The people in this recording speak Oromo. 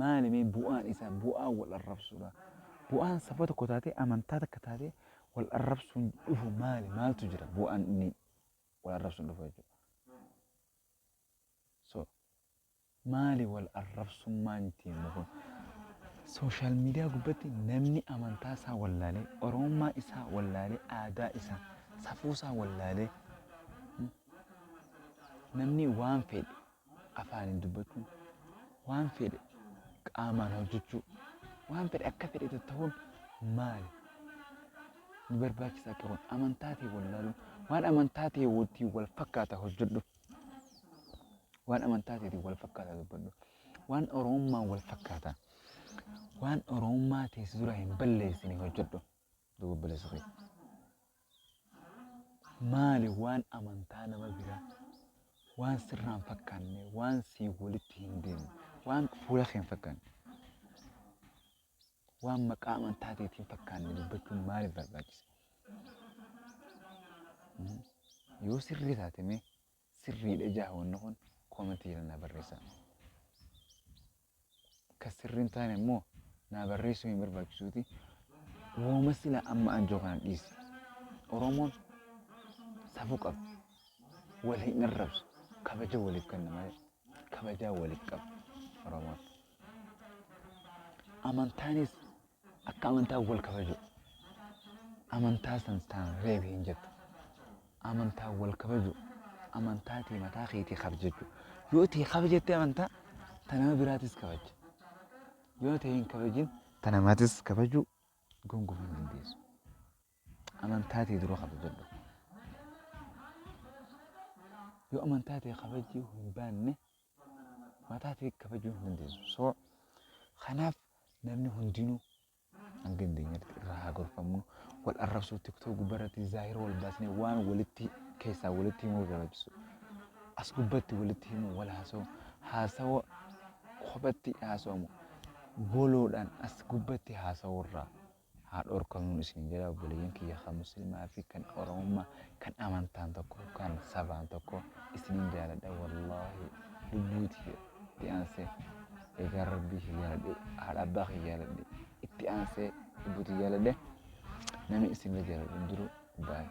Maali mee bu'aan isaa bu'aa wal arrabsuudha. Bu'aan saba tokko taatee amantaa takka taatee wal arrabsuun dhufu maali maaltu jira bu'aan inni wal arrabsuun dhufu jechuudha. So maali wal arrabsummaan ittiin dhufu. Sooshaal miidiyaa gubbatti namni amantaa isaa wallaalee oromummaa isaa wallaalee aadaa isaa safuu isaa wallaalee namni waan fedhe afaaniin dubbachuu, waan fedhe qaamaan hojjechuu, waan fedhe akka fedhe tattahuun maali? Ni barbaachisa akka kun amantaa ta'e wallaaluun waan amantaa ta'e wajjin wal fakkaata hojjedhu. Waan amantaa ta'eetiin wal fakkaata dubbadhu. Waan Oromummaan wal fakkaata. Waan Oromummaa teessi dura hin balleessine hojjedhu. Duuba obboleessa kee. Maali waan amantaa nama biraa waan sirraan fakkaanne waan sii walitti hin deemne waan fuula kee hin fakkaanne waan maqaa amantaa teetiin fakkaanne dubbachuun maaliif barbaachisa? Yoo sirrii taate mee Sirriidha ijaa wanni kun comment jala naa barreessaa. Ka sirrii hin taane immoo naa barreessuu hin barbaachisuuti. Wooma sila amma anjoo kana dhiisi. Oromoon safuu qaba. Wal hin arrabsu. Kabaja waliif kenna malee. Kabajaa waliif qaba. Oromoon. Amantaanis Akka amantaa wal kabaju. Amantaa san taan reebi hin jettu. Amantaa wal kabaju. Amantaa tee mataa keetii kabjajju. Yoo tee kabjatte amantaa ta nama biraatis kabajja. Yoo tee hin kabajin ta namaatis kabajuu gonkumaa hin dandeessu. Amantaa tee dura kabajadhu. Yoo amantaa tee kabajjii hin baanne mataa ta'e kabajuu hin dandeessu. So kanaaf namni hundinuu hanga dandeenyatti irraa haa gorfamnu. Wal arrabsuu tiktook gubbarratti zaahira wal baasnee waan walitti keessaa walitti himuu barbaachisu. As gubbatti walitti himuu wal haasoo haasawa kophatti haasawamu boloodhaan as gubbatti haasawu irraa haa dhorkamuun isin jedha obboleeyyan kiyya kan muslimaa fi kan oromummaa kan amantaan tokko kan sabaan tokko isinin jaaladha wallaahi lubbuuti itti aansee egaa rabbii kiyya jaaladhe haadha abbaa kiyya jaaladhe itti aansee lubbuuti jaaladhe namni isin jaaladhu hin jiru baay'ee.